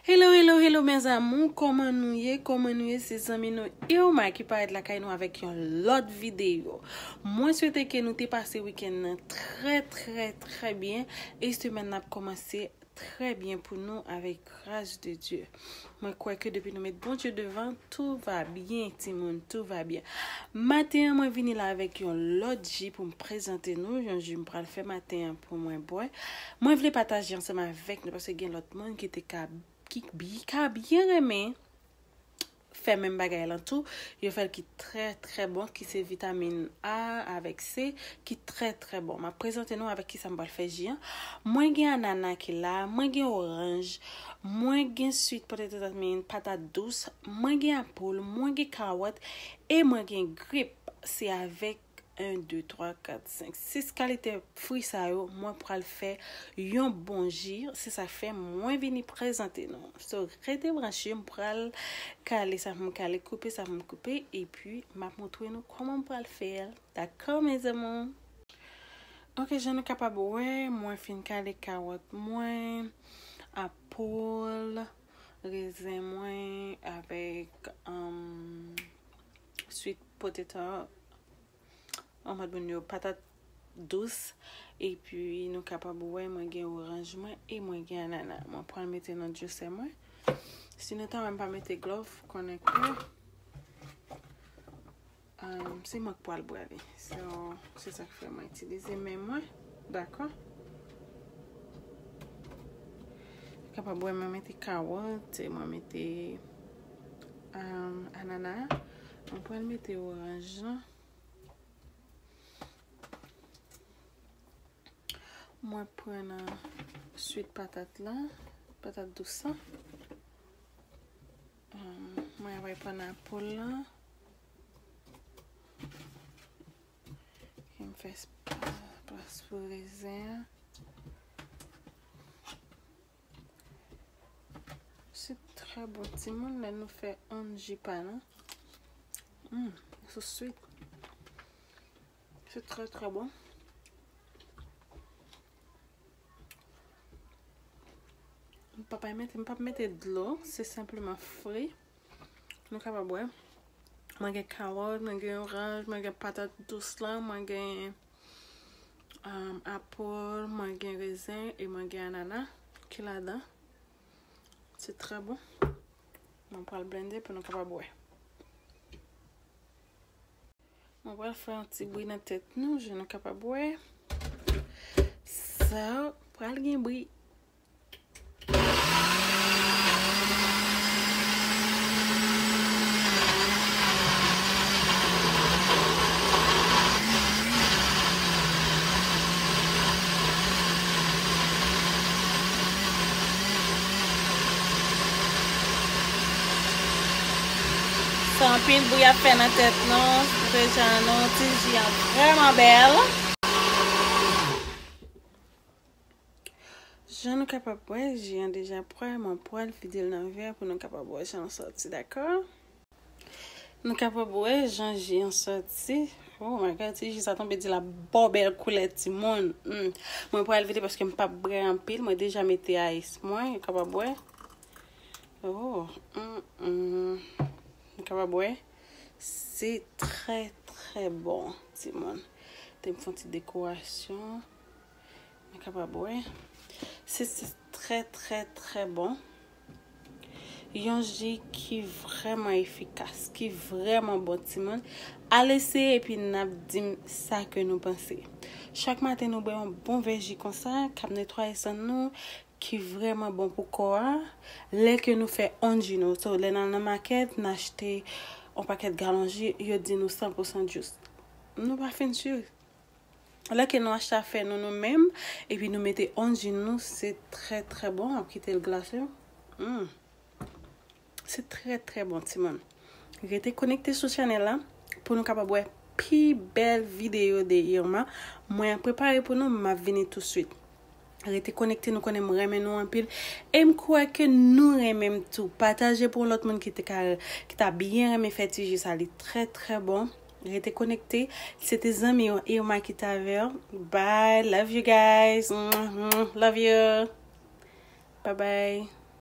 Hello hello hello mes amour koman nou ye koman nou ye se zanmi nou Irma ki parèt lakay nou avèk yon lòt videyo mwen swete ke nou te pase weekend nan trè trè trè byen e semèn nan ap komanse trè byen pou nou avèk gras de Dieu mwen kwè ke depi nou met bon Dieu devan tout va byen timoun tout va byen maten an mwen vini la avèk yon lòt ji poum prezante nou yon ji m pral fè maten an pou mwen bwè Mwen vle pataje ansanm avèk nou paske gen lòt moun ki te ka ki ka byen renmen fè menm bagay lan tou, yo fè l ki trè trè bon ki se vitamin A avèk C ki trè trè bon. M ap prezante nou avèk kisa m pral fè ji an. Mwen gen anana ki la, mwen gen oranj, mwen gen sweet potato dat min patat dous, mwen gen apple, mwen gen kawòt e mwen gen grip se avèk 1 2 3 4 5 6 kalite fwi sa yo mwen pral fè yon bon ji se sa fè mwen vini prezante nou so rete branche m pral kale sa pou m kale koupe sa pou m koupe epi m ap montre nou koman m pral fè l dakò mes amours Ok, jan nou kapab wè, mwen fin kale kawòt mwen, apòl. Rezen mwen avèk sweet potato an mòd moun yo patat dous epi nou kapab wè mwen gen oranj mwen e mwen gen anana mwen pral mete nan juicer mwen si nou ta wèm pa mete glove konnen ke Se mwen ki pwal brale. So se sak fè mwen itilize men mwen. Dakò. Kapab wè mwen mete kawòt. Mwen mete anana. Mwen pwal mete oranj la. Mwen pwal nan swit patat la. Patat dous la. Mwen ap reponn a poul la. Em fè plas pou rezen an. Se trè bon ti moun lè nou fè on ji pa nou. Hum, sou swit. Se trè trè bon. M pa pa mete, m pa pa mete dlo. Se senpleman fri. Nou ka pa bwè. Mwen gen kawòt, mwen gen oranj, mwen gen patat dous la, mwen gen apòl, mwen gen rezen, e mwen gen anana ki la dan. Se trè bon. Mwen pral blende pou nou ka pa bwè. Mwen pral fè yon ti bri nan tèt nou jan nou kapab wè. Sa pral gen bri. San anpil bri ap fè nan tèt nou, koute jan nou, ti ji an vrèman bèl. Jan nou kapab wè, ji an deja pwè, mwen pwè l vide l nan vè pou nou kapab wè jan l sòti dakò. Nou kapab wè jan ji an sòti, oh my God ti ji sa tonbe di l ap ba w bèl koulè ti moun. Mwen pral vide paske m pap brè anpil, mwen deja mete ice mwen, ou kapab wè. Oh humm m kapab wè se trè trè bon timoun te m fon ti dekorasyon m kapab wè se trè trè trè bon yon ji ki vrèman efikas ki vrèman bon timoun al eseye epi n ap di m sa ke nou panse chak maten nou bwè yon bon vè ji konsa k ap netwaye san nou ki vrèman bon pou kò a, lè ke nou fè on ji nou, so lè n al nan makèt, n achte on pakèt galon ji, yo di nou 100 pou 100 jus. Nou pa fin sur. Lè ke nou achte afè nou nou menm, epi nou mete on ji nou, se trè trè bon, wap kite l glase, humm. Se trè trè bon timoun. Rete konekte sou chanel la pou nou kapab wè pi bèl videyo de Irma. Mwen ap prepare pou nou map vini tou swit. Rete konekte nou konnen m renmen nou anpil e m kwè ke nou renmen m tou. Pataje pou yon lòt moun ki te ka ki ta byen renmen fè ti ji sa li trè trè bon. Rete konekte. Se te zanmi w Irma ki te avè w. Bye love you guys. Mwah mwah love you. Bye bye.